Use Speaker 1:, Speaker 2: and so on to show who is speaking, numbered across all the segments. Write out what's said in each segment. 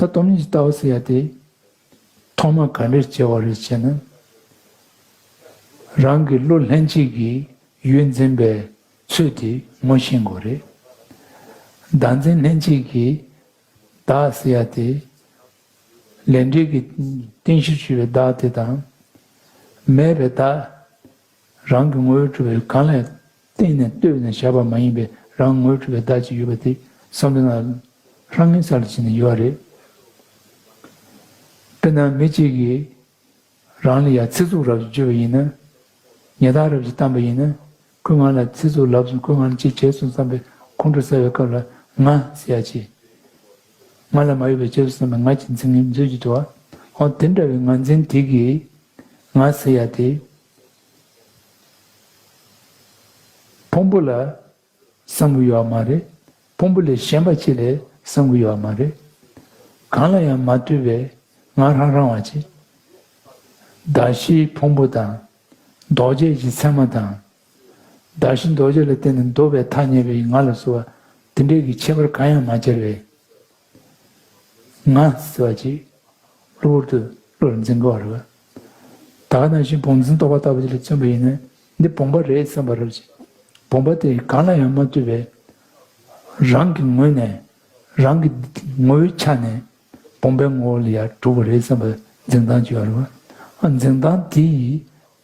Speaker 1: ད་སྡོམ་གཉིས་ཀྱི་ལྟ་བ་ཟེར་ཡ་དེ། ཐོག་མར་ག་འདྲེར་བྱེད་བ་རེད་ཅེ་ན། རང་གི་བློ་ལྷན་སྐྱེས་ཀྱི་ཡུལ་འཛིན་པའི་ཚུལ་དེ་ངོ་ཤེས་དགོས་རེད། བདག་འཛིན་ལྷན་སྐྱེས་ཀྱི་བདག་ཟེར་ཡ་དེ། ལས་འབྲས་ཀྱི་རྟེན་གཞིར་གྱུར་པའི་བདག་དེ་དང། མེད་པའི་བདག། རང་གི་ངོ་བོས་གྲུབ་པའི་གང་ལས་བརྟེན་ནས་ལྟོས་ནས་བཞག་པ་མ་ཡིན་པའི་རང་ངོས་གྲུབ་པའི་བདག་ཅིག་ཡོད་པ་དེ་བསམ་གཏན་ལ་ལྷང་ངེ་ས་ལ་བྱིན་ནས་ཡོད་པ་རེད། དཔེར་ན་མི་གཅིག་གིས་རང་ལ་ཡང་ཚིག་རྩུབ་རབ་ཀྱིས་བརྗོད་པ་ཡིན་ན། ཉེས་རྟགས་རབ་ཀྱིས་བཏང་པ་ཡིན་ན། ཁོས་ང་ལ་ཚིག་རྩུབ་ལབ་སོང་ཁོས་ང་ལ་ཅི་བྱས་སོང་བསམ་པའི་ཁོང་ཁྲོ་ཟ་བའི་སྐབས་ལ་ང་ཟེར་ཡག་ཆེ། ང་ལ་མ་ཡོད་པའི་རྗེས་སུ་སོང་བའི་ང་ཀྱི་འཛིན་མཛོད་ཀྱི་འགྲོ་བ། ཨོ་དེ་འདྲ་བའི་ངར་འཛིན་དེ་གིས་ང་བཟི་ཡ་དེ། ཕུང་པོ་ལ་བསམ་གྱི་ཡོད་བ་མ་རེད། ཕུང་པོ་ལས་གཞན་པ་ཅིག་ལས་བསམ་གྱི་ཡོད་བ་མ་རེད། གང་ལ་ཡང་མ་ལྟོས་པའི་ང་རང་རང་བ་ཅིག། བདག་གཞིའི་ཕུང་པོ་དང། ལྡོག་ཆས་ཀྱི་མཚན་མ་དང། བདག་གཞི་རྡོ་རྗེ་ལ་བརྟེན་ནས་འདོད་པའི་མཐའ་བརྙེས་པའི་ང་ལ་གསོལ་བ། དེ་འབྲས་ཀྱི་ཁྱད་པར་གང་ཡང་མ་སྦྱར་བས། ང། བསིལ་བ་གཅིག། གློ་བུར་དུ། བློ་ལ་འཛིན་དགའ་བ་རེ་བ། ད་ང་ནང་བཞིན་བོང་འཛིན་རྟོག་པ་ལྟ་བུ་དེ་ལ་བརྩོན་པ་ཡིན་ན། འདི་བོང་བ་རེད་བསམ་པ་རབ་ཅིང། བོང་བ་དེ་གང་ལ་ཡང་མ་ལྟོས་པའི། རང་གི་ངོས་ནས། རང་གི། ངོ་བོའི་ཆ་ནས། བོང་བའི་ངོ་བོ་ལ་ཡང་གྲུབ་པ་རེད་བསམ་པ་འཛིན་སྟངས་ཅི་ཡང་རུང། འཛིན་སྟངས་དེ་ཡིས།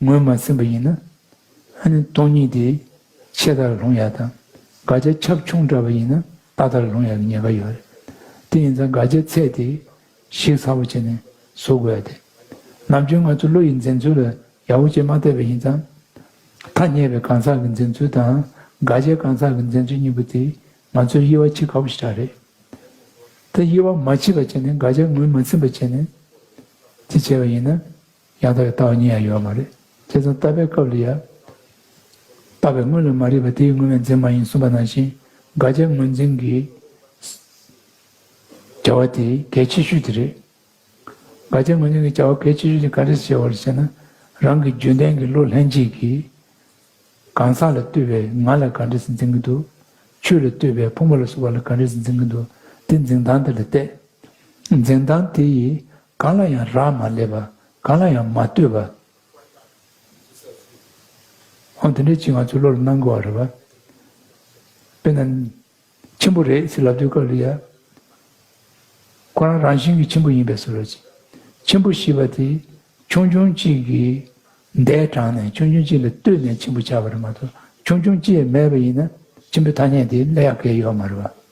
Speaker 1: ངོས་མ་ཟིན་པ་ཡིན་ན། ཨ་ནི་སྟོང་ཉིད་དེ་ཆད་ལྟར་ལྷུང་ཡག་དང་དགག་བྱ་ཁྱབ་ཆུང་འདྲ་བ་ཡིན་ན་ལྟ་ལྟར་ལྷུང་ཡག་གི་ཉེན་ཁ་ཡོད་རེད། དེ་ཡིན་ཙང་དགག་བྱའི་ཚད་དེ་གཞིག་ཚ་བོ་བྱས་ནས་བཟོ་དགོས་ཡ་དེ། ནམ་རྒྱུན་ང་ཚོ་བློ་ཡི་འཛིན་ཚུལ་ལ་ཡག་པོ་བྱེད་མ་ཐབས་པས་ཡིན་ཙང། ཐ་སྙད་པའི་གང་ཟག་གི་འཛིན་ཚུལ་དང་དགག་བྱའི་གང་ཟག་གི་འཛིན་ཚུལ་གཉིས་པོ་དེ་ང་ཚོའི་དབྱེ་བ་ཕྱེ་དཀའ་བོ་ཞིག་ཆགས་རེད་དེ། དབྱེ་བ་མ་ཕྱེ་བར་བྱས་ནས་དགག་བྱ་ངོས་མ་ཟིན་པ་བྱས་ནས་དེ་བྱས་པ་ཡིན་ན། ཡང་དག་པའི་ལྟ་བ་ཉིད་ཡང་ཡོད་མ་རེད། ཁྱེད་ཚོ་ལྟ་བའི་སྐབས་ལ་ཡང། ལྟ་བའི་དངོས་ལས་མ་རིག་པ་དེའི་དངོས་མེད་འཛིན་མ་ཡིན་གསུངས་པ་ནང་བཞིན་དགག་བྱའི་དངོས་འཛིན་གྱི་བྱ་བ་དེ་གལ་ཆེ་ཤོས་དེ་རེད། དགག་བྱའི་དངོས་འཛིན་གྱི་བྱ་བ་གལ་ཆེ་ཤོས་དེ་ག་རེ་བྱས་བ་རེད་ཟེར་ན། རང་གི་རྒྱུན་ལྡན་གྱི་བློ་ལྷན་སྐྱེས་ཀྱི་གང་ཟག་ལ་ལྟོས་པའི་ང་ལ་ག་རེས་འཛིན་གྱི་འདུག་ཆོས་ལ་ལྟོས་པའི་ཕུང་པོ་ལ་སོགས་པ་ལ་ག་རེས་འཛིན་གྱི་འདུག་དེ་འཛིན་སྟངས་དེ་ལ་བལྟས། འཛིན་སྟངས་དེ་ཡིས་གང་ལ་ཡང་རག་མ་ལས་པ་གང་ལ་ཡང་མ་ལྟོས་པ། འོ་དེ་འདྲའི་ཆེད་ང་ཚོས་བློ་ལ་སྣང་དགོས་བ་རེད་བ། དཔེར་ན། ཆེན་པོ་རེད་ཟེར་ལབ་དུས་སྐབས་ལ་ཡ། ཁོ་རང་རང་བཞིན་གྱིས་ཆེན་པོ་ཡིན་པས་སོ་ར་ཅིག། ཆེན་པོ་ཞེས་པ་དེ་ཆུང་ཆུང་གཅིག་གིས་མདས་དྲངས་ནས་ཆུང་ཆུང་གཅིག་ལ་ལྟོས་ནས་ཆེན་པོ་བྱ་བ་རེད་མ་གཏོགས་ཆུང་ཆུང་གཅིག་མེད་པ་ཡིན་ན་ཆེན་པོའི་ཐ་སྙད་དེ་གླེགས་ཡག་གེ་ཡོད་མ་རེད་བ།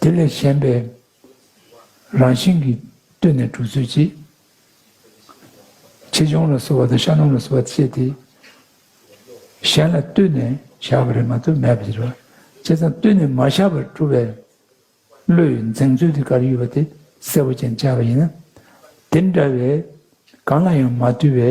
Speaker 1: དེ་ལས་གཞན་པའི་རང་བཞིན་གྱིས་བཏུལ་ནས་དྲུག་ཚུལ་གྱིས། ཆེ་ཆུང་ལ་བསྲོ་བ་དང་ཤ་སྣུམ་ལ་བསྲོ་བ་བྱེད་དེ། གཞན་ལ་བཏུལ་ནས་བཞག་པ་རེ་མ་ཐུབ་མེད་པར་བཞེད་པ། བྱས་ཙང་བཏུལ་ནས་མ་བཞག་པར་བཀྲུ་བའི་བློ་ཡི་འཛིངས་ཚུལ་དེ་གར་ཡོད་པ་དེ་གསལ་པོ་ཅན་བྱ་བ་ཡིན་ན། དེ་འདྲ་བའི་གང་ལ་ཡང་མ་བཏུལ་བའི་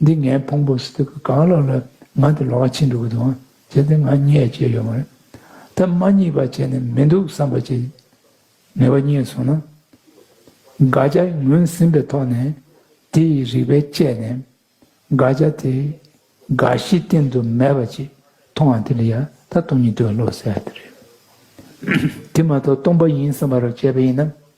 Speaker 1: འདི་ངའི་ཕུང་པོ་སི་ཏུ་གི་གང་ལོགས་ལ་ང་དེ་ལོགས་ཀ་ཕྱིན་འགྲོ་གི་འདུག་བྱས་ཏེ་ང་རྙེད་བྱས་ཡོད་མ་རེད། ད་མ་རྙེད་པ་བྱས་ནས་མི་འདུག་བསམ་པ་ཅིག་ངེས་པ་རྙེད་སོང་ན། དགག་བྱ་ངོས་ཟིན་པའི་ཐོག་ནས་དེ་ཡི་རིགས་པས་དཔྱད་ནས། དགག་བྱ་དེ་དགག་གཞི་སྟེང་དུ་མེད་པ་ཅིག་མཐོང་བ་དེ་ལ་ཡང་ད་སྟོང་ཉིད་དུ་བློ་གསལ་ལྟར་རེད། དེ་མ་གཏོགས་སྟོང་པ་ཡིན་བསམ་པ་རུ་བྱས་པ་ཡིན་ན་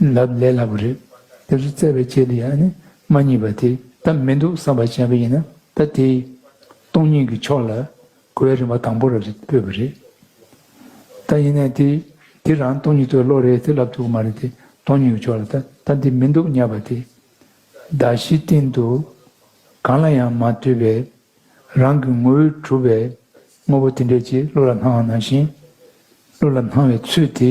Speaker 1: ལབ་ལས་སླ་པོ་རེད། དེ་ཚོ་བཙལ་བའི་ཆེད་དུ་ཡང་ནི་མ་རྙེད་པ་དེ་ད་མི་འདུག་བསམ་པ་བྱས་པ་ཡིན་ན་ད་དེ། སྟོང་ཉིད་ཀྱི་ཕྱོགས་ལ་གོ་བའི་རིན་པ་དང་པོ་ར་རེད་ཕོད་པ་རེད། ད་ཡིན་ནའི་དེ་དེ་རང་སྟོང་ཉིད་དུ་ལོག་རེད་དེ་ལབ་ཐུབ་ཀྱི་མ་རེད་དེ་སྟོང་ཉིད་ཀྱི་ཕྱོགས་ལ་ད་ད་དེ་མི་འདུག་སྙ་པ་དེ། བརྡ་བཞིའི་སྟེང་དུ་གང་ལ་ཡང་མ་ལྟོས་པའི་རང་གི་ངོ་བོས་གྲུབ་པའི་དངོས་པོ་དེ་འདྲས་ཀྱིས་བློ་ལ་སྣང་བ་ནང་བཞིན་བློ་ལ་སྣང་བའི་ཚུལ་དེ།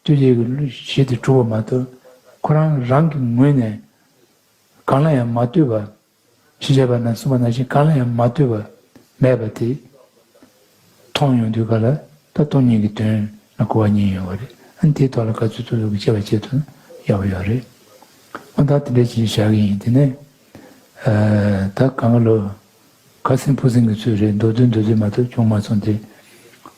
Speaker 1: ལྟོས་བཅས་ཀྱི་གཞི་དེ་གྲུབ་པ་མ་གཏོགས་ཁོ་རང་རང་གི་ངོས་ནས་གང་ལ་ཡང་མ་ལྟོས་པ། ཞེས་བྱ་བ་ན་གསུམ་པ་ནང་བཞིན་གང་ལ་ཡང་མ་ལྟོས་པ་མེད་པ་དེ་མཐོང་ཡོང་དུས་ག་ལ་ད་སྟོང་ཉིད་ཀྱི་དོན་ལ་གོ་བ་གཉིས་ཡོད་པ་རེད་ཨང་དེའི་ཐོག་ལ་ག་ཚོད་ཚོད་ཀྱིས་དཔྱད་པ་བྱེད་དུ་ཡག་པོ་ཡོད་རེད། ཨང་ད་དེ་འདྲའི་བྱེད་བཞག་གི་ཡིན་དེ་ནས་ད་གང་ག་ལོ་ག་སྲིན་ཕུ་སྲིན་གྱི་ཚོད་རེད་མདོ་བསྡུས་མདོ་བསྡུས་མ་གཏོགས་ཅུང་མ་སོང་དེ།